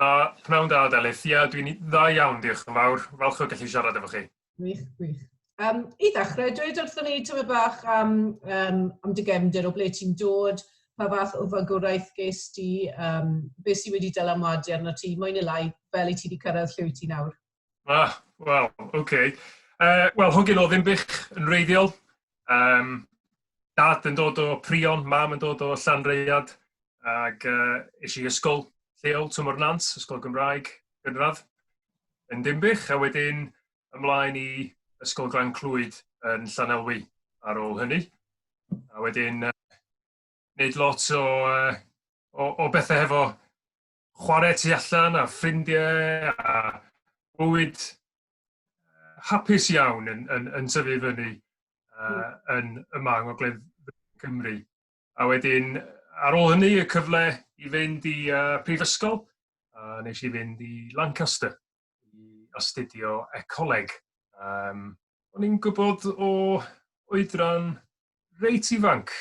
Da, pnawn da, Delyth. Ia, dwi'n dda iawn, diolch yn fawr. Falch o gallu siarad efo chi. Gwych, gwych. Um, I ddechrau, dweud wrthyn ni tyfu bach am, um, am dy gefndir o ble ti'n dod, pa fath o fagwraeth ges di, um, beth sydd wedi dylanwadu arno ti, moyn i lai, fel i ti wedi cyrraedd lle wyt ti nawr? Ah, wel, oce. Okay. Uh, wel, hogyn o Ddimbych yn reiddiol. Um, dad yn dod o Prion, mam yn dod o Llanreiad, ac uh, eisiau i ysgol lleol Tymor Nant, ysgol Gymraeg gynradd yn Dimbych, a wedyn ymlaen i ysgol Glan Clwyd yn Llanelwy ar ôl hynny. A wedyn uh, wneud lot o, uh, o, o bethau hefo chwarae tu allan a ffrindiau a bywyd hapus iawn yn, yn, yn tyfu fyny uh, yn yma yng Ngogledd Cymru. A wedyn, ar ôl hynny, y cyfle i fynd i uh, prifysgol, a nes i fynd i Lancaster. i astudio ecoleg. Um, o'n i'n gwybod o oedran reit ifanc,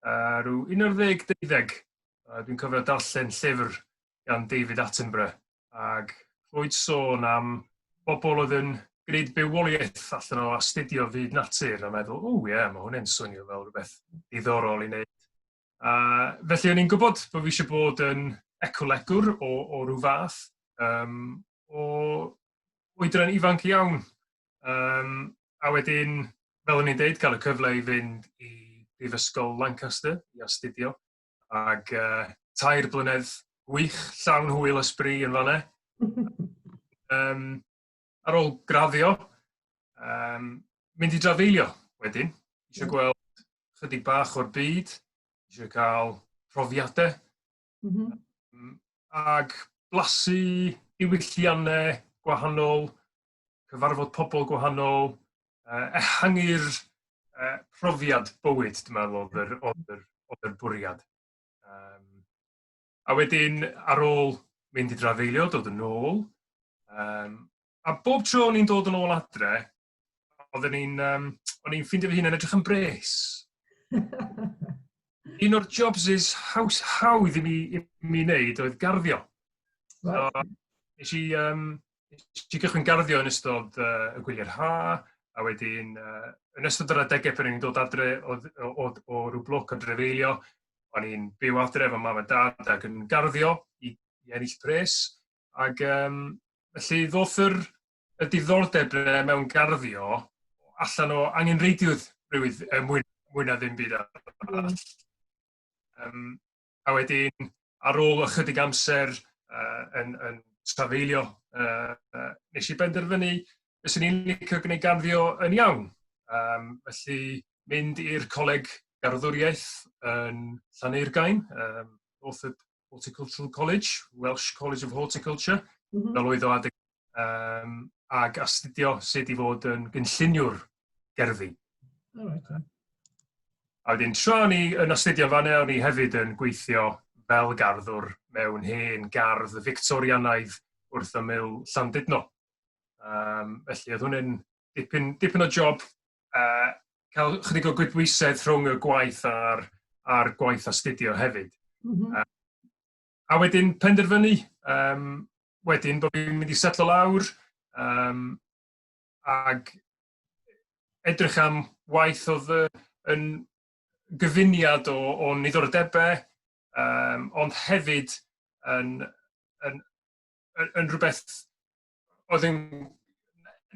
uh, rhyw 11-12, uh, dwi'n cofio darllen llyfr gan David Attenborough, ac roed sôn am bobl oedd yn gwneud bywoliaeth allan o astudio fyd natur a meddwl, o ie, yeah, mae hwnna'n swnio fel rhywbeth diddorol i wneud A felly o'n i'n gwybod bod fi eisiau bod yn ecolegwr o, o rhyw fath, um, o oedran ifanc iawn. Um, a wedyn, fel o'n i'n deud, cael y cyfle i fynd i Brifysgol Lancaster i astudio, ac uh, tair blynedd gwych, llawn hwyl ysbri yn fanna. um, ar ôl graddio, um, mynd i drafeilio wedyn. Eisiau mm. gweld chydig bach o'r byd, eisiau cael profiadau, mm -hmm. um, ac blasu diwylliannau gwahanol, cyfarfod pobl gwahanol, uh, ehangu'r uh, profiad bywyd, dwi'n meddwl, oedd yr, oedd yr, oedd yr bwriad. Um, A wedyn ar ôl mynd i drafeilio, dod yn ôl, um, a bob tro o'n i'n dod yn ôl adre, oedden ni'n, um, o'n i'n ffeindio fy hun yn edrych yn bres. Un o'r jobs is haws hawdd i mi, i mi wneud oedd garddio. Right. So, nes i, um, Nes i gychwyn garddio yn ystod uh, y gwyliau'r ha, a wedyn uh, yn ystod yr adegau pan i'n dod adre o, o, o, o rhyw bloc o drefeilio, o'n i'n byw adre efo mam a dad ac yn garddio i, i ennill pres. Ac um, felly ddoth yr, y diddordeb mewn garddio allan o angen reidiwyd rhywyd, er mwyn, mwyn na ddim byd arall. Mm. Um, A wedyn, ar ôl ychydig amser uh, yn, yn trafeilio, uh, uh, nes i benderfynu beth sy'n i'n licio gwneud garddio yn iawn. Um, felly, mynd i'r coleg garddwriaeth yn Llaneirgain, um, Northwood Horticultural College, Welsh College of Horticulture, mm -hmm. fel oedd o adeg um, ac astudio sut i fod yn gynlluniwr gerddi. Oh, okay. A wedyn, tra ni yn astudio fan o'n ni hefyd yn gweithio fel garddwr mewn hen gardd Victorianaidd wrth ymyl Llandudno. Um, felly, oedd hwnna'n dipyn, dipyn o job uh, cael chydig o gwybwisedd rhwng y gwaith a'r, ar gwaith astudio hefyd. Mm -hmm. uh, a wedyn penderfynu um, wedyn bod fi'n mynd i setlo lawr um, ag edrych am waith oedd yn gyfuniad o, o niddordebau, um, ond hefyd yn, yn, yn, yn rhywbeth oedd yn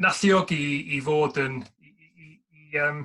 nalluogi i, i fod yn i, i, i, um,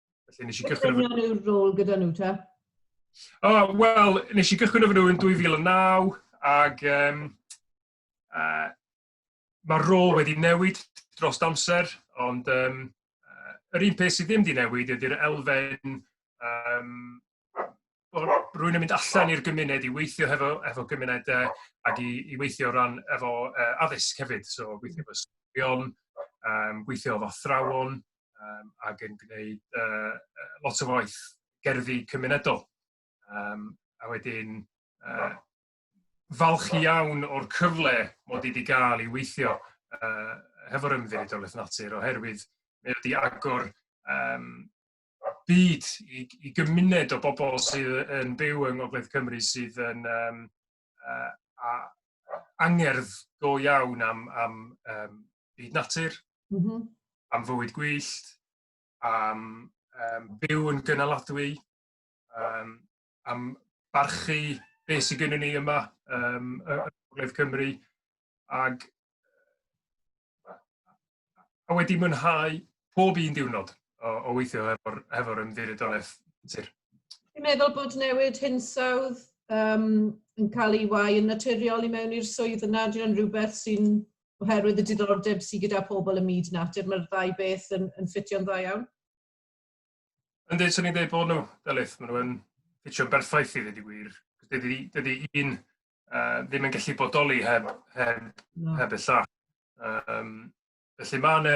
Felly nes i gychwyn... Beth yw'r rôl gyda nhw ta? Oh, Wel, nes i gychwyn efo nhw yn 2009 ac um, uh, mae'r rôl wedi newid dros amser, ond um, yr un peth sydd ddim wedi newid ydy'r elfen um, rwy'n mynd allan i'r gymuned i weithio hefo efo gymuned yy ag i i weithio o ran efo yy addysg hefyd so gweithio efo ysgolion yym gweithio efo athrawon yym ag yn gneud yy yy lot o waith gerddi cymunedol yym a wedyn yy falch iawn o'r cyfle mod i 'di ga'l i weithio yy hefo'r Ymddiriedolaeth Natur oherwydd mae o 'di agor yym byd, i, i gymuned o bobl sydd yn byw yng Ngogledd Cymru sydd yn um, uh, a, angerdd go iawn am, am um, byd natur, mm -hmm. am fywyd gwyllt, am um, byw yn gynaladwy, um, am barchu beth sydd gennym ni yma um, y Gogledd Cymru ac a wedi mwynhau pob un diwrnod o, o weithio hefo'r hefo ymddiriedolaeth sir. Dwi'n meddwl bod newid hinsawdd um, yn cael ei wai yn naturiol i mewn i'r swydd yna. Dwi'n rhywbeth sy'n oherwydd y diddordeb sydd gyda pobl y myd natur. Mae'r ddau beth yn, yn ffitio'n dda iawn. Ynddi, swn i'n dweud bod nhw, Delyth, maen nhw'n ffitio'n berffaith i ddweud y gwir. Dydy, dydy un uh, ddim yn gallu bodoli heb, heb, no. heb y llall. Um, felly mae yna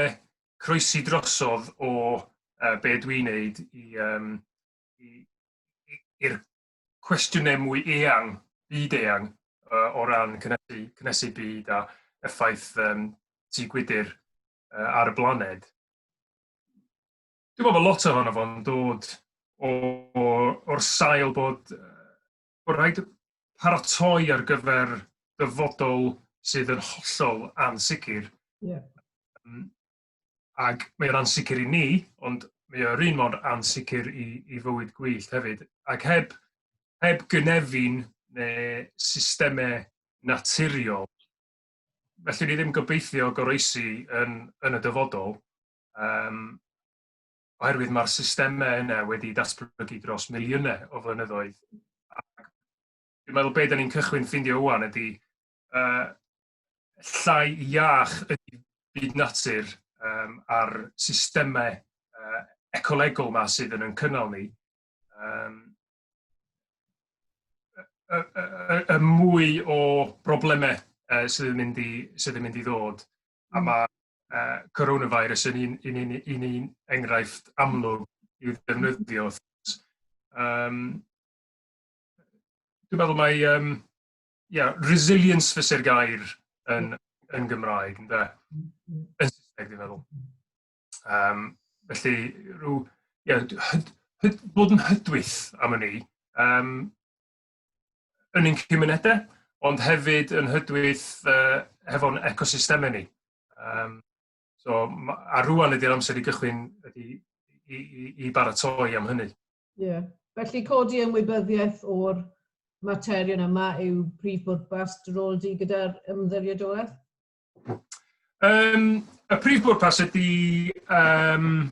croesi drosodd o uh, be dwi'n neud i, um, i'r cwestiynau mwy eang, byd eang, uh, o ran cynnesu, cynnesu byd a effaith um, tu gwydr uh, ar y blaned. Dwi'n meddwl bod lot ohono fo'n dod o, o, o'r sail bod, bod rhaid paratoi ar gyfer dyfodol sydd yn hollol ansicr. Yeah. Um, ac mae o'n ansicr i ni, ond mae o'r un mor ansicr i, i fywyd gwyllt hefyd. Ac heb, heb gynefin neu systemau naturiol, felly ni ddim gobeithio goroesi yn, yn y dyfodol, Um, oherwydd mae'r systemau yna wedi datblygu dros miliynau o flynyddoedd. Ac dwi'n meddwl beth ni'n cychwyn ffindio wwan ydy uh, llai iach ydy byd natur um, a'r systemau uh, ecolegol yma sydd yn yn cynnal ni. Um, y, y, y, y mwy o broblemau uh, sydd, yn mynd i, sydd yn mynd i ddod. A mae uh, coronavirus yn un, un, un, un, un enghraifft amlwg i'w ddefnyddio. Um, dwi'n meddwl mae um, yeah, resilience fysa'r gair yn, yn Gymraeg, ynddo? Yn Saesneg, dwi'n meddwl. Um, felly, rhyw, yeah, hyd, hyd, bod yn hydwyth am hynny, um, yn ein cymunedau, ond hefyd yn hydwyth uh, hefo'n ecosystemau ni. Um, so, a rwan ydy'r amser i gychwyn ydy, i, i, i baratoi am hynny. Ie. Yeah. Felly codi ymwybyddiaeth o'r materion yma yw prif bwrpas dy rôl di gyda'r ymddiriedolaeth? Um, y prif bwrpas ydy... Um,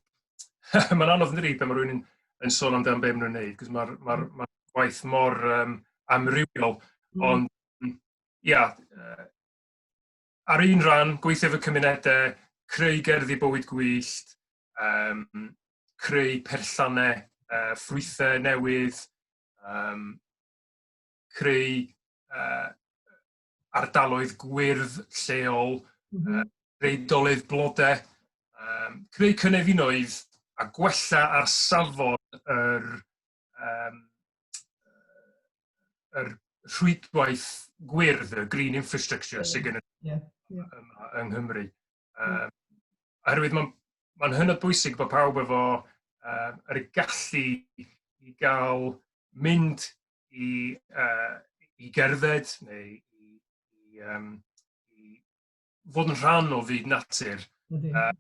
mae'n anodd yn dydi pan mae rhywun yn, yn sôn amdano beth maen nhw'n gwneud, cos mae'r ma, ma gwaith mor um, amrywiol, mm. ond ia, yeah, uh, ar un rhan, gweithio efo cymunedau, creu gerddi bywyd gwyllt, um, creu perllannau uh, ffrwythau newydd, um, creu uh, ardaloedd gwyrdd lleol, mm -hmm. reidolydd blodau, um, creu cynefinoedd a gwella ar safon yr, um, yr rhwydwaith gwyrdd, y green infrastructure yeah. sydd gen yeah. yeah. yng Nghymru. Um, oherwydd mae'n ma hynod bwysig bod pawb efo uh, yr gallu i gael mynd i, uh, i gerdded neu i, i, um, i fod yn rhan o fyd natur. Uh,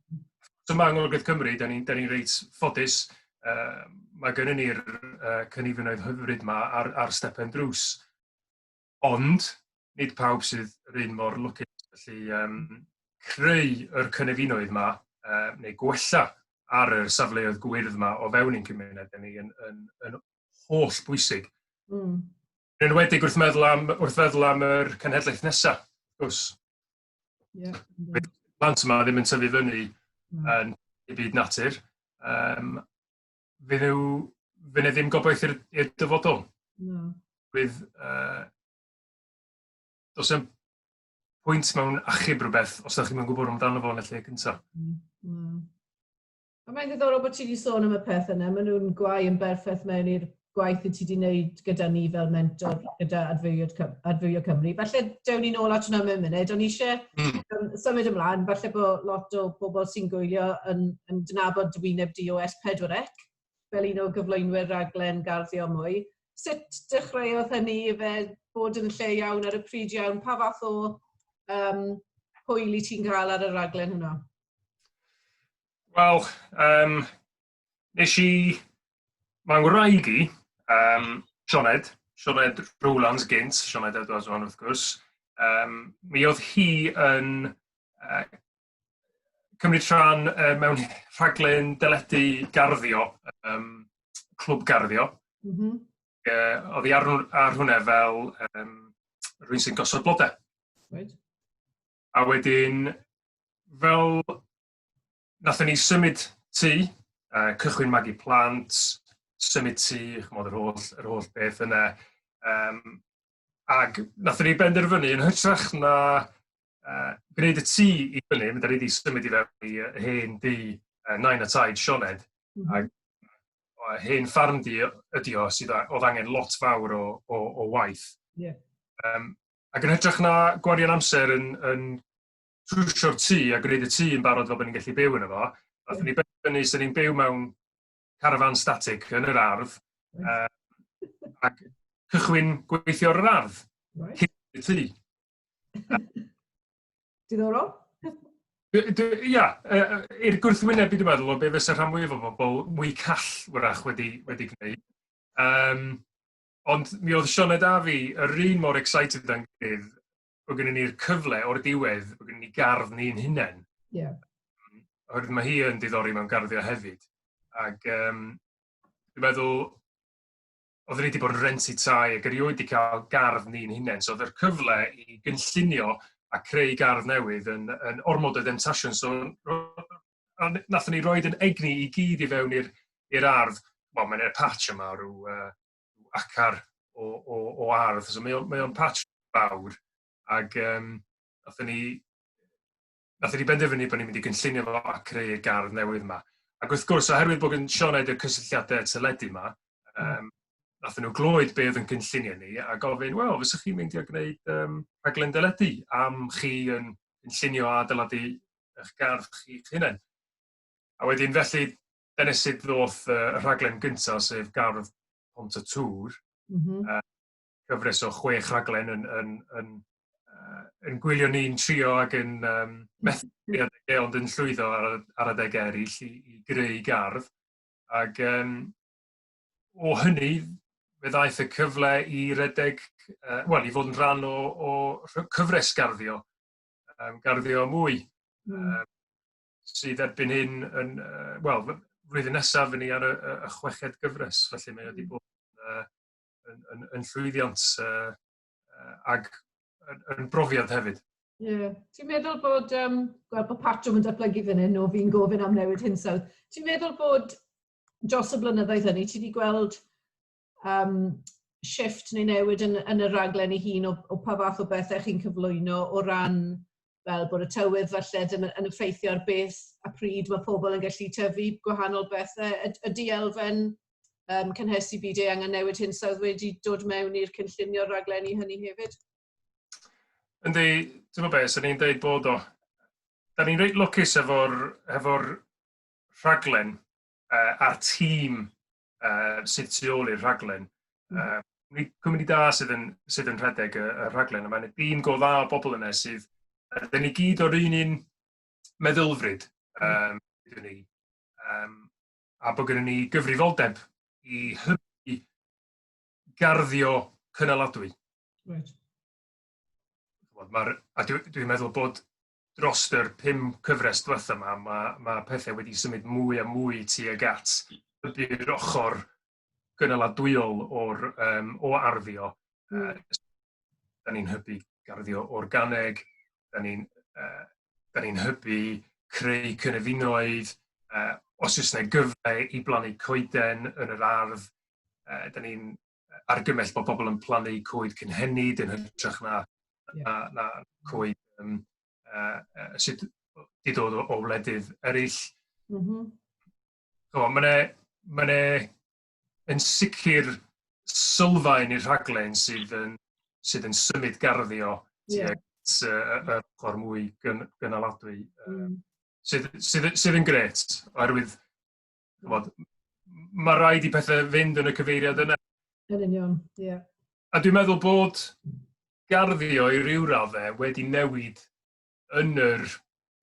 so mae Anglogaeth Cymru, da ni'n ni reit ffodus, uh, mae gennym ni'r uh, cynifinoedd hyfryd yma ar, ar stepen drws. Ond, nid pawb sydd yr un mor lwcus, felly um, creu yr cynefinoedd yma, uh, neu gwella ar y safleoedd gwyrdd yma o fewn ein cymuned ni yn, yn, yn holl bwysig. Mm. Yn enwedig wrth meddwl am, wrth feddwl am yr cenhedlaeth nesaf, wrth gwrs. Yeah, yeah. Plant yma ddim yn tyfu fyny mm. yn y byd natur, um, fe ddew, fe ne ddim gobaith i'r dyfodol. No. Bydd, uh, dos yn pwynt mewn achub rhywbeth os ydych chi'n gwybod amdano fo yn y lle cyntaf. Mm. Mm. A mae'n ddiddorol bod ti wedi sôn am y peth yna, maen nhw'n gwau yn berffaith mewn i'r gwaith i ti wedi wneud gyda ni fel mentor gyda Adfywio, Cymru. Falle dewn ni'n ôl at hwnna mewn munud, ond eisiau Mm. Um, symud ymlaen, falle bod lot o bobl sy'n gwylio yn, yn dynabod dwyneb DOS 4 ec fel un o gyflwynwyr raglen garddio mwy. Sut dechreuodd hynny i fe bod yn lle iawn ar y pryd iawn? Pa fath o um, hwyl i ti'n cael ar y raglen hwnnw? Wel, um, Nes i Mae ngwraig i, um, Sioned, Sioned Rowlands gynt, Sioned Edwards o'n wrth gwrs, um, mi oedd hi yn uh, cymryd rhan uh, mewn rhaglen deledu garddio, um, clwb garddio. Mm -hmm. uh, oedd hi ar, ar hwnna fel um, rhywun sy'n gosod blodau. Right. A wedyn, fel Nathon ni symud tŷ, uh, cychwyn magu plant, symud tŷ, chymod yr holl, yr holl beth yna. Um, ac nathon ni benderfynu yn hytrach na uh, gwneud y tŷ i fyny, mynd ar ei symud i fewn i hen dŷ uh, nain a taid Sioned, mm -hmm. ac hen ffarm di ydi o sydd oedd angen lot fawr o, o, o waith. Yeah. Um, ac yn hytrach na gwario'n amser yn, yn trwsio'r tŷ a gwneud y tŷ yn barod fel bod ni'n gallu byw yno fo. Nathon ni benderfynu so ni'n byw mewn carafan static yn yr ardd uh, ac cychwyn gweithio ar yr ardd. Right. Cyn y tŷ. Diddorol. Ia, i'r gwrthwyneb i dwi'n meddwl o be fysa rhan mwyaf o bobl mwy call wrach wedi, wedi gwneud. Um, ond mi oedd Sioned a fi yr un mor excited â'n gilydd bod gennym ni'r cyfle o'r diwedd, bod gennym ni gardd ni'n hunain. Ie. Yeah. Oherwydd mae hi yn diddori mewn garddio hefyd. Ac um, dwi'n meddwl, oedden ni wedi bod yn rentu tai ac erioed wedi cael gardd ni'n hunain. So oedd yr cyfle i gynllunio a creu gardd newydd yn, yn ormod o demtasiwn. So, a nath ni roed yn egni i gyd i fewn i'r ardd. Wel, mae'n e'r patch yma rhyw uh, acar o, o, o ardd. So mae o'n mae o patch fawr ac um, nathon ni nathon ni benderfynu bod ni'n mynd i gynllunio fo a creu y gardd newydd yma. Ac wrth gwrs, oherwydd bod yn Sioned y cysylltiadau teledu yma, um, nathon nhw glwyd be oedd yn cynllunio ni a gofyn, wel, fysych chi'n mynd i a gwneud um, rhaglen deledu am chi yn cynllunio a dyladu eich gardd chi'ch hunain. A wedyn felly, dyna sut ddoth y rhaglen gyntaf, sef Gardd Pont y Tŵr, mm -hmm. uh, cyfres o chwech rhaglen yn, yn, yn, uh, yn gwylio ni'n trio ac yn um, methu adegau ond yn llwyddo ar, ar adegau eraill i, i greu gardd. Ac um, o hynny, fe ddaeth y cyfle i redeg, uh, wel, i fod yn rhan o, o cyfres garddio, um, garddio mwy. Mm. Um, sydd erbyn hyn yn, uh, wel, flwyddyn nesaf fyny ar y, y chweched gyfres, felly mae wedi hmm. bod uh, yn, yn, yn llwyddiant uh, uh, ag yn, yn brofiad hefyd. Yeah. Ti'n meddwl bod, um, gweld bod patrwm yn datblygu fan hyn o fi'n gofyn am newid hinsawdd, ti'n meddwl bod dros y blynyddoedd hynny, ti wedi gweld um, shift neu newid yn, yn y raglen ei hun o, o pa fath o bethau chi'n cyflwyno o ran fel bod y tywydd falle yn, yn effeithio ar beth a pryd mae pobl yn gallu tyfu gwahanol bethau. Y, y dielfen um, cynhesu byd ei angen newid hyn sydd wedi dod mewn i'r cynllunio raglen i hynny hefyd? Yndi, ti'n gwybod beth, sy'n ni'n dweud bod o. Da ni'n reit lwcus efo'r efo rhaglen uh, a'r tîm uh, sydd tu ôl i'r rhaglen. Uh, cwmni da sydd yn, sydd yn rhedeg y, y rhaglen, a mae'n dîm go dda o bobl yna sydd, ydyn ni gyd o'r un un meddylfryd, um, ydyn ni, um, a bod gennym ni gyfrifoldeb i hybu garddio cynaladwy. Right. Mae'r, a dwi'n dwi meddwl bod dros yr pum cyfres dwetha 'ma ma' ma' pethe wedi symud mwy a mwy tuag at ydi'r ochor gynaladwyol o'r yym o arddio yy hmm. 'dan ni'n hybu garddio organig, 'dan ni'n yy 'dan ni'n hybu creu cynefinoedd, yy os oes 'na gyfle i blannu coeden yn yr ardd, yy 'dan ni'n argymell bod pobl yn plannu coed cynhenid yn hytrach na, yeah. na, na coed um, uh, uh, sydd wedi dod o, o wledydd eraill. Mm -hmm. so, Mae'n e, ma e yn sicr sylfaen i'r rhaglen sydd yn, sydd yn symud garddio yeah. tuag y ochr mwy gyn, gynaladwy. Um, sydd, sydd, sydd yn gret, oherwydd Chymod, mae rhaid i pethau fynd yn y cyfeiriad yna. Yn union, ie. Yeah. A dwi'n meddwl bod garddio i ryw raddau wedi newid yn yr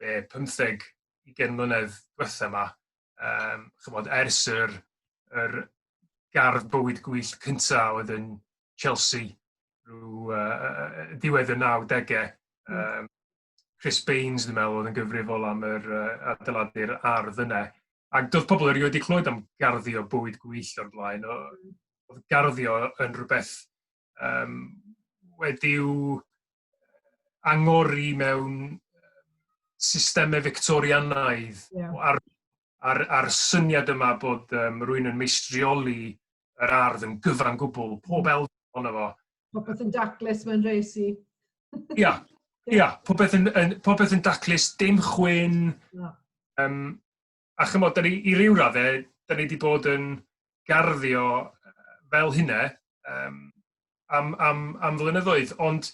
e, 15 20 mlynedd diwetha yma, um, chymod, ers yr, yr gardd bywyd gwyllt cyntaf oedd yn Chelsea rhyw uh, diwedd y 90au, um, Chris Baines, dwi'n meddwl, oedd yn gyfrifol am yr uh, adeiladu'r ardd yna. Ac doedd pobl erioed wedi clywed am garddio bywyd gwyll o'r blaen. Oedd garddio yn rhywbeth um, wedi'w angori mewn systemau Victorianaidd yeah. ar, ar, ar syniad yma bod um, rwy'n yn meistrioli yr ardd yn gyfan gwbl, pob elfen ohono fo. Popeth yn daclus mae'n rhes i. Ia, ia, popeth yn, yn, popeth yn daclus, dim chwyn. No. Um, a chymod, ni, i ryw raddau, da ni wedi bod yn garddio fel hynna um, am, am, am flynyddoedd, ond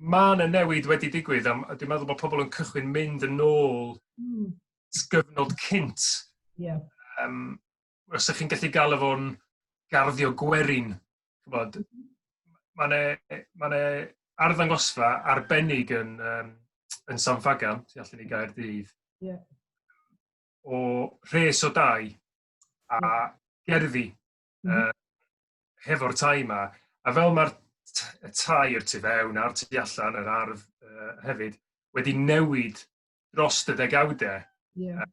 mae yna newid wedi digwydd, a dwi'n meddwl bod pobl yn cychwyn mynd yn ôl mm. sgyfnod cynt. Yeah. Um, os ydych chi'n gallu galw fo'n garddio gwerin, chybod, mae yna e, ma e arddangosfa arbennig yn, um, yn San Fagan, tu allan i gair dydd, yeah. o rhes o dau a gerddi mm -hmm. uh, hefo'r tai yma. A fel mae'r y tai i'r tu fewn a'r tu allan, yr ardd uh, hefyd, wedi newid dros y degawdau. Yeah.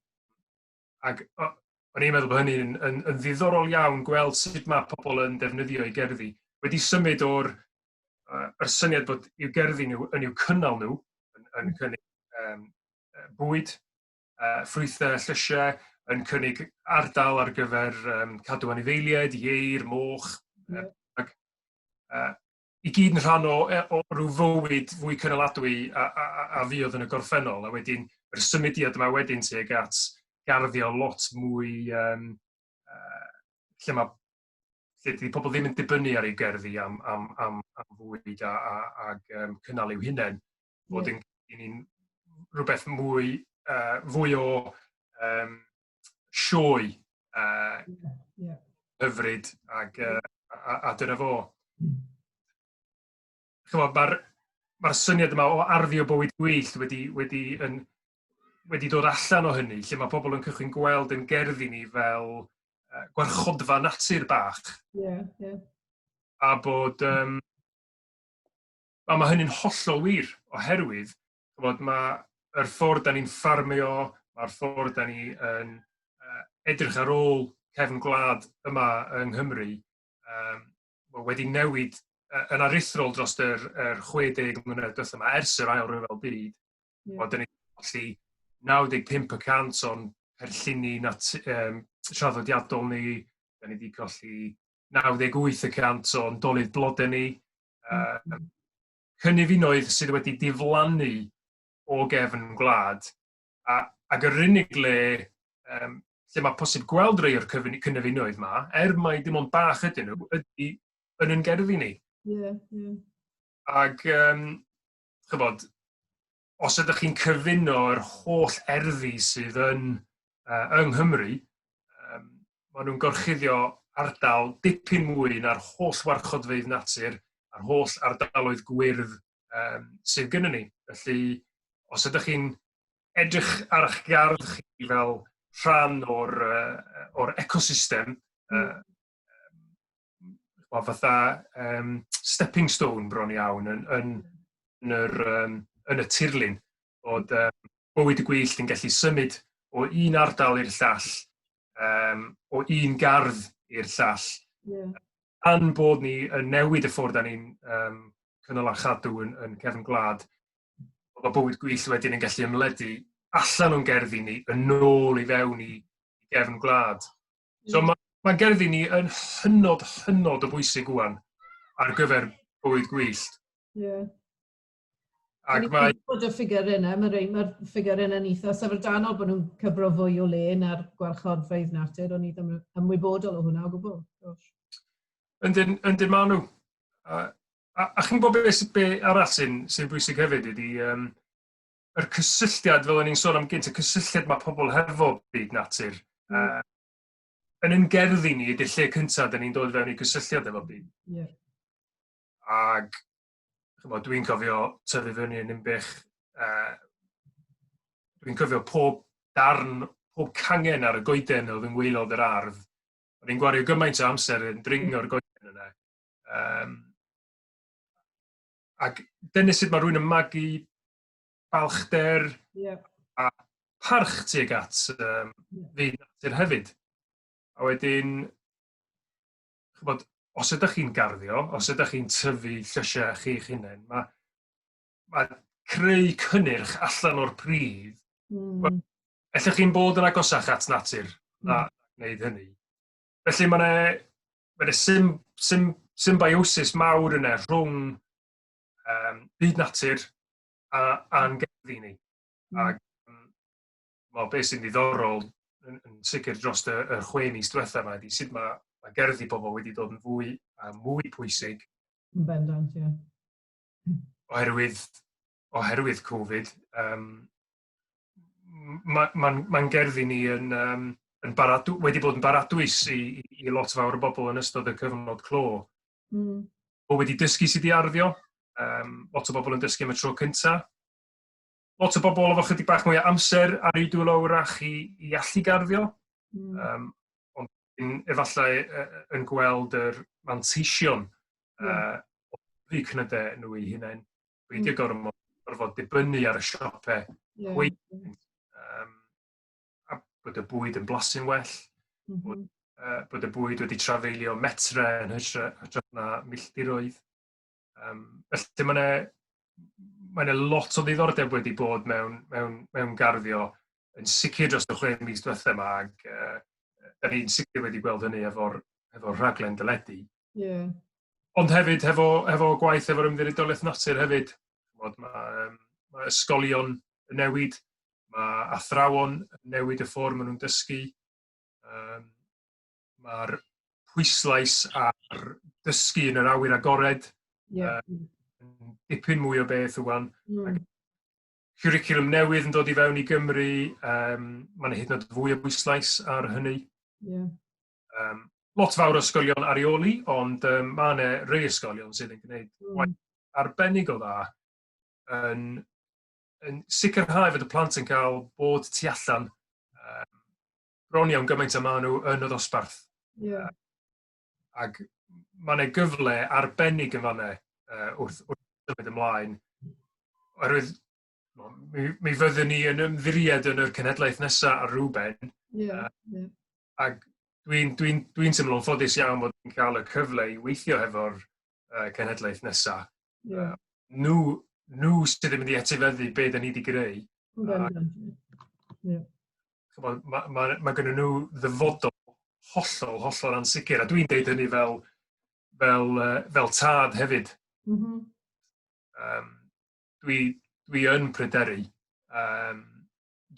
ac o- o'n i'n meddwl bod hynny'n yn, yn, yn ddiddorol iawn gweld sut mae pobl yn defnyddio eu gerddi. Wedi symud o'r uh, yr syniad bod i'w gerddi nhw yn i'w cynnal nhw, yn, yn hmm. cynnig um, bwyd, uh, ffrwythau a llysiau, yn cynnig ardal ar gyfer um, cadw anifeiliaid, ieir, moch, yeah. ac, uh, i gyd yn rhan o, e, o rhyw fywyd fwy cynaladwy a, a, a, a fi oedd yn y gorffennol, a wedyn yr symudiad yma wedyn tuag at garddio lot mwy um, uh, lle mae lle dydy pobl ddim yn dibynnu ar ei gerddi am, am, am, am fwyd a, a, a um, cynnal i'w hunain, bod yeah. yn, yn rhywbeth mwy, uh, fwy o um, sioe uh, yeah, yeah. hyfryd ac, uh, a, a dyna fo. Mm. Mae'r ma syniad yma o arddio bywyd gwyllt wedi, wedi, yn, wedi dod allan o hynny, lle mae pobl yn cychwyn gweld yn gerddi ni fel uh, gwarchodfa natur bach. Yeah, yeah. A bod... Um, a mae hynny'n hollol wir, oherwydd ch'mod ma' yr ffordd 'dan ni'n ffarmio a'r ffordd 'dan ni yn yy edrych ar ôl cefn gwlad yma yng Nghymru yym ma' wedi newid yy yn aruthrol drost yr yr chwe deg mlynedd dwetha 'ma ers yr ail ryfel byd. Hmm. Wel 'dan ni colli 95 y cant o'n cynlluni nat- yym traddodiadol ni, 'dan ni 'di colli 98 y cant o'n dolydd blode ni, yy cynefinoedd sydd wedi diflannu o gefn gwlad, a, ac yr unig le um, lle mae posib gweld rei o'r cynefinoedd yma, er mae dim ond bach ydyn nhw, ydy yn yn gerddi ni. Yeah, yeah. Ac, um, chybod, os ydych chi'n cyfuno yr holl erddi sydd yn uh, yng Nghymru, um, maen nhw'n gorchuddio ardal dipyn mwy na'r holl warchodfeydd natur a'r holl ardaloedd gwyrdd um, sydd gyda ni. Felly, os ydych chi'n edrych ar eich gardd chi fel rhan o'r, uh, or ecosystem, uh, o fatha um, stepping stone bron iawn yn, yn, yn, yr, um, yn y tirlun bod um, bywyd y gwyllt yn gallu symud o un ardal i'r llall, um, o un gardd i'r llall. Yeah. Pan bod ni yn newid y ffordd da ni'n um, cynnal a chadw yn, yn cefn gwlad, bod bywyd gwyllt wedyn yn gallu ymledu allan o'n gerddi ni, yn ôl i fewn i gefn gwlad. So mae ma gerddi ni yn hynod, hynod o bwysig wwan ar gyfer bywyd gwyllt. Yeah. Ac mae... Bod y ffigur yna, mae'r rei, mae'r ffigur yna'n eitha syfrdanol bod nhw'n cyfro fwy o le na'r gwarchodfeydd natur, ond ni ddim yn ymwybodol o hwnna o gwbl. Yndyn, yndyn maen nhw. A, a, a chi'n gwybod beth be arall sy'n sy bwysig hefyd ydy, um, yr cysylltiad, fel o'n i'n sôn am gynt, y cysylltiad mae pobl hefo byd natur. Mm. Uh, yn yn gerdd i ni ydy'r lle cyntaf dyn ni'n dod fewn i gysylltiad efo byd. Yeah. Ac dwi'n cofio tyfu fyny yn unbych, uh, dwi'n cofio pob darn, pob cangen ar y goeden oedd yn weilod yr ardd. O'n i'n gwario gymaint o amser yn dringo'r goeden yna. Um, ac dyna sut mae rhywun yn magu balchder yeah. a parch tuag at um, fi natur hefyd. A wedyn, chybod, os ydych chi'n garddio, os ydych chi'n tyfu llysiau chi'ch hunain, mae, mae creu cynnyrch allan o'r pridd, mm. ellwch chi'n bod yn agosach at natur na mm. wneud hynny. Felly mae yna mae yna sym, sym, symbiosis mawr yna rhwng um, byd natur a, a'n gerddi ni. Mm. Ac well, beth sy'n ddiddorol yn, yn sicr dros y, y chwe mis diwetha yma ydy sut mae, mae gerddi pobl wedi dod yn fwy a mwy pwysig. Yn bendant, ie. Yeah. Oherwydd, oherwydd Covid, um, mae'n ma, ma gerddi ni yn, um, yn baradw, wedi bod yn baradwys i, i lot fawr o bobl yn ystod y cyfnod clo. Mm. O wedi dysgu sydd wedi arddio, um, lot o bobl yn dysgu am y tro cyntaf. Lot o bobl efo chydig bach mwy o amser ar ei dwylo wrach i, i allu garddio. Mm. Um, ond yn, efallai yn gweld yr manteision mm. uh, o'u cnydau nhw eu hunain. Peidio mm. gormod, gorfod dibynnu ar y siope yeah. hwyt. Um, a bod y bwyd yn blasu'n well, mm -hmm. bod, uh, bod y bwyd wedi trafeilio metre yn hytrach na milltiroedd. Um, felly mae yna mae yna lot o ddiddordeb wedi bod mewn, mewn, mewn garddio yn sicr dros y chwe mis diwethaf yma ac uh, da ni'n sicr wedi gweld hynny efo'r efo rhaglen dyledu. Yeah. Ond hefyd, hefo, hefo gwaith efo'r ymddiriedolaeth natur hefyd, chmod, mae, um, mae ysgolion yn newid, mae athrawon yn newid y ffordd maen nhw'n dysgu, um, mae'r pwyslais ar dysgu yn yr awyr agored, yeah. um, dipyn mwy o beth ywan. Mm. Curriculum newydd yn dod i fewn i Gymru, um, mae'n hyd yn oed fwy o bwyslais ar hynny. Yeah. Um, lot fawr o ysgolion ar eoli, ond um, mae yna rei ysgolion sydd yn gwneud mm. waith arbennig o dda yn, yn sicrhau fod y plant yn cael bod tu allan um, bron iawn gymaint y maen nhw yn y ddosbarth. Yeah. Ac mae yna gyfle arbennig yn fanna uh, wrth, wrth symud ymlaen. Oherwydd mi, mi fyddwn ni yn ymddiried yn yr cenhedlaeth nesaf ar rhywben. Yeah, uh, yeah. ac dwi'n dwi dwi teimlo'n ffodus iawn bod yn cael y cyfle i weithio hefo'r uh, cenhedlaeth nesaf. Yeah. Uh, nhw, nhw sydd yn mynd i etifeddu beth da ni wedi greu. Yeah. Mae ma, ma, ma gen nhw ddyfodol hollol, hollol ansicr, a dwi'n deud hynny fel, fel, uh, fel tad hefyd. Mm -hmm. um, dwi, dwi yn pryderu um,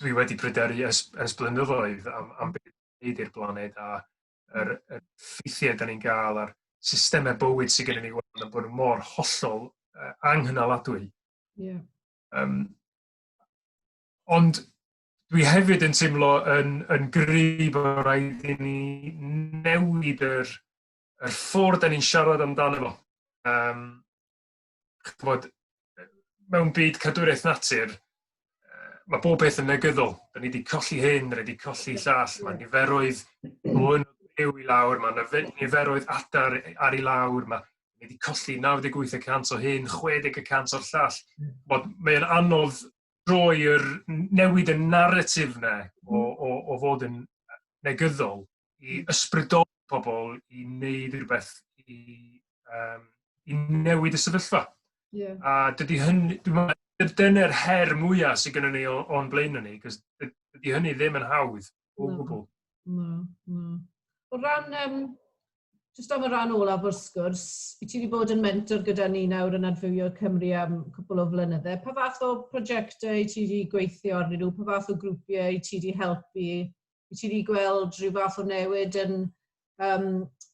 dwi wedi pryderu ers ers blynyddoedd am am be' neud i'r blaned a yr y ffeithie 'dan ni'n ga'l a'r systeme bywyd sy gennyn ni ŵan a bod yn mor hollol yy anghynaladwy. Ie. Yym ond dwi hefyd yn teimlo yn yn gry bo' raid i ni newid yr yr ffordd 'dan ni'n siarad amdano fo. Yym. ch'bod, yy mewn byd cadwraeth natur yy ma' bob peth yn negyddol. 'Dan ni 'di colli hyn, 'dan ni 'di colli llall, ma' niferoedd hwn byw i lawr, ma' 'na fe- niferoedd adar yy ar i lawr, ma' ni 'di colli naw deg wyth y cant o hyn, chwe deg y cant o'r llall. Wel, mae e'n anodd droi yr newid y narratif yna o, hmm. o, o fod yn negyddol i hmm. ysbrydoli pobl i wneud rhywbeth i, um, i newid y sefyllfa. Yeah. A dydy hynny, dyna'r her mwyaf sydd gennym ni o'n blaen ni, cos dydy hynny ddim yn hawdd. O gwbl. Na, na. O ran, um, just am y ran olaf o'r sgwrs, i ti wedi bod yn mentor gyda ni nawr yn adfywio Cymru am cwpl o flynydde. Pa fath o prosiectau i ti wedi gweithio arnyn nhw? Pa fath o grwpiau i ti wedi helpu? I ti wedi gweld rhyw fath o newid yn um,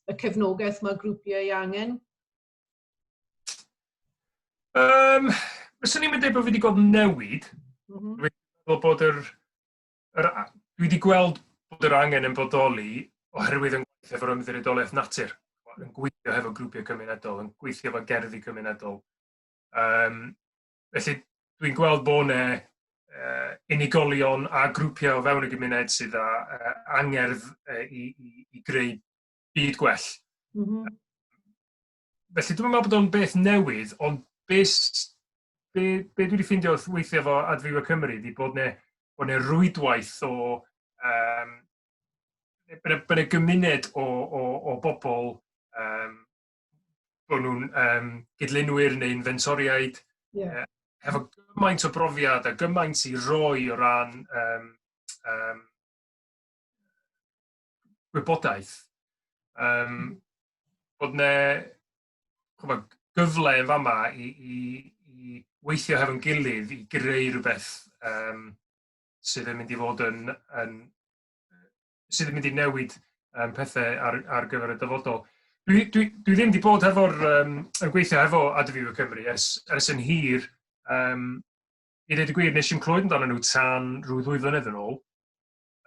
y cefnogaeth mae grwpiau i angen? Um, Fyswn i'n mynd bod fi wedi gweld newid. Mm -hmm. Dwi'n meddwl bod yr Yr a- dwi wedi gweld bod yr angen yn bodoli oherwydd yn gweithio efo'r Ymddiriedolaeth Natur, yn gweithio hefo grwpiau cymunedol, yn gweithio efo gerddi cymunedol. Um, felly dwi'n gweld bod yna uh, unigolion a grwpiau o fewn y gymuned sydd â uh, angerdd uh, i, i, i greu byd gwell. Mm -hmm. felly dwi'n meddwl bod o'n beth newydd, ond beth be, be dwi wedi ffeindio wrth weithio efo Adfywio Cymru ydy bod yna bod yna rwydwaith o um, bod yna gymuned o, o, o bobl um, bod nhw'n um, gydlunwyr neu'n fentoriaid yeah. uh, hefo gymaint o brofiad a gymaint i roi o ran um, um, gwybodaeth. Um, bod yna gyfle yn fama i, i, i weithio hefo'n gilydd i greu rhywbeth um, sydd yn mynd i fod yn, yn sydd yn mynd i newid um, pethau ar, ar gyfer y dyfodol. Dwi, dwi, dwi ddim wedi bod hefo'r, um, yn gweithio hefo Adfywio Cymru ers, ers yn hir. Um, I ddweud y gwir, nes i'n clywed amdano nhw tan rhyw ddwy flynedd yn ôl.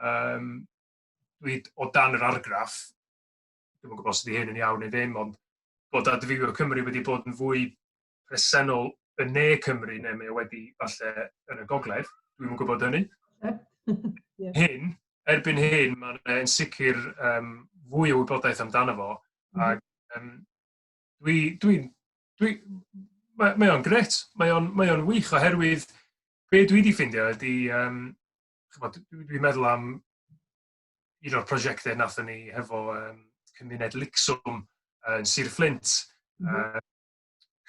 um, dwi o dan yr argraff, dwi'n yn gwybod os ydy hyn yn iawn neu ddim, ond bod Adfywio Cymru wedi bod yn fwy presennol yn ne Cymru neu mae wedi falle yn y gogledd, dwi'n yn gwybod hynny. Hyn, erbyn hyn, mae'n yn sicr um, fwy o wybodaeth amdano fo, mm. ac um, dwi, dwi, dwi, mae, mae o'n gret, mae o'n mae o'n wych oherwydd be dwi wedi ffeindio ydy um, ch'mod dwi dwi'n meddwl am un o'r prosiecte nathon ni hefo um, cymuned Lixwm yn uh, Sir Fflint. Mm -hmm. uh,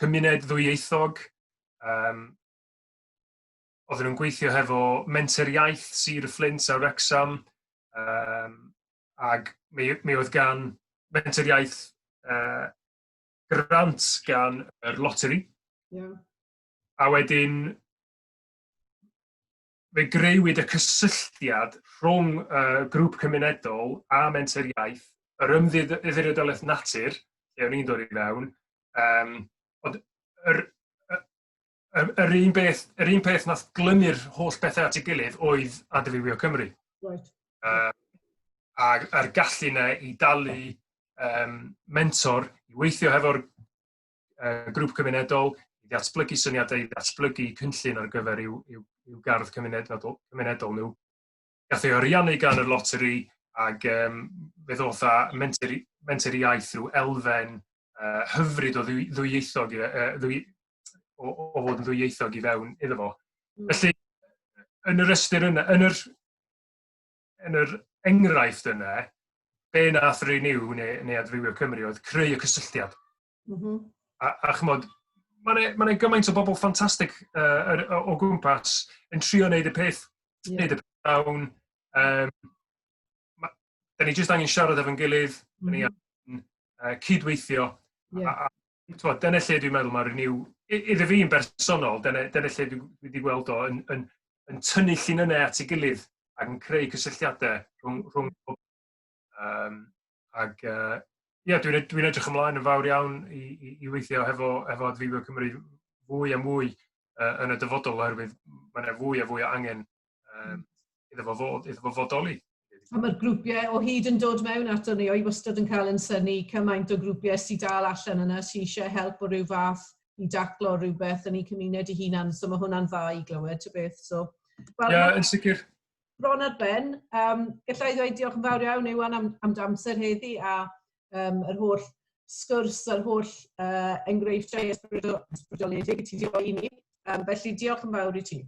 cymuned ddwyieithog, um, oedden nhw'n gweithio hefo menter iaith Sir y Fflint a Wrexham, um, ac mi, mi oedd gan menter iaith uh, grant gan yr loteri. Yeah. A wedyn, fe greuwyd y cysylltiad rhwng y grŵp cymunedol a Menter Iaith, yr ymddiriedolaeth natur, lle o'n i'n dod i fewn, um, ond yr, yr, yr, un beth, yr un peth nath glymu'r holl bethau at ei gilydd oedd Adfywio Cymru. Right. Uh, a'r, ar gallu yna i dalu um, mentor i weithio hefo'r uh, grŵp cymunedol, i ddatblygu syniadau, i ddatblygu cynllun ar gyfer i'w, i'w, i'w gardd cymunedol, cymunedol nhw. Gath ei oriannu gan y loteri ac um, fe ddoth â menter, menter iaith rhyw elfen uh, hyfryd o ddwyieithog, uh, ddwy, o, o fod yn ddwyieithog i fewn iddo fo. Hmm. Felly, yn yr ystyr yna, yn yr yn yr enghraifft yna, be nath Renew neu, neu Adfywio Cymru oedd creu y cysylltiad. Mm -hmm. A, a chymod, mae'n e, ma e gymaint o bobl ffantastig uh, er, o, o gwmpas yn trio wneud y peth, yeah. wneud y peth dawn. Um, ma, da ni jyst angen siarad efo'n gilydd, mm -hmm. da ni mhm. angen uh, cydweithio, yeah. a, a, t'mod dyna lle dwi'n meddwl mae'r renew i- iddo fi'n bersonol dyna dyna lle dwi dwi 'di gweld o yn yn yn tynnu llinynnau at ei gilydd ac yn creu cysylltiadau rhwng rhwng pob yym ac yy ie dwi'n ed- dwi'n edrych ymlaen yn fawr iawn i i i weithio hefo hefo Adfywio Cymru fwy a mwy yy yn y dyfodol oherwydd ma' 'na fwy a fwy o angen um, iddo fo fod, iddo fo fodoli. A mae'r grwpiau o hyd yn dod mewn ato ni, o'i wastad yn cael yn syni cymaint o grwpiau sy'n dal allan yna sy'n eisiau help o rhyw fath i daclo rhywbeth yn ei cymuned i hunan, so mae hwnna'n dda i glywed, ty beth. So, well, yeah, yn sicr. Bron ar ben, um, gallai ddweud diolch yn fawr iawn Iwan am, am damser heddi a um, yr holl sgwrs a'r holl uh, enghreifftiau ysbrydoledig i ti diolch i ni. Um, felly diolch yn fawr i ti.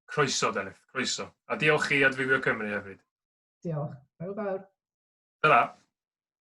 Croeso, Delyth, croeso. A diolch i Adfywio Cymru hefyd. Diolch. Hwyl fawr. Ta-ra.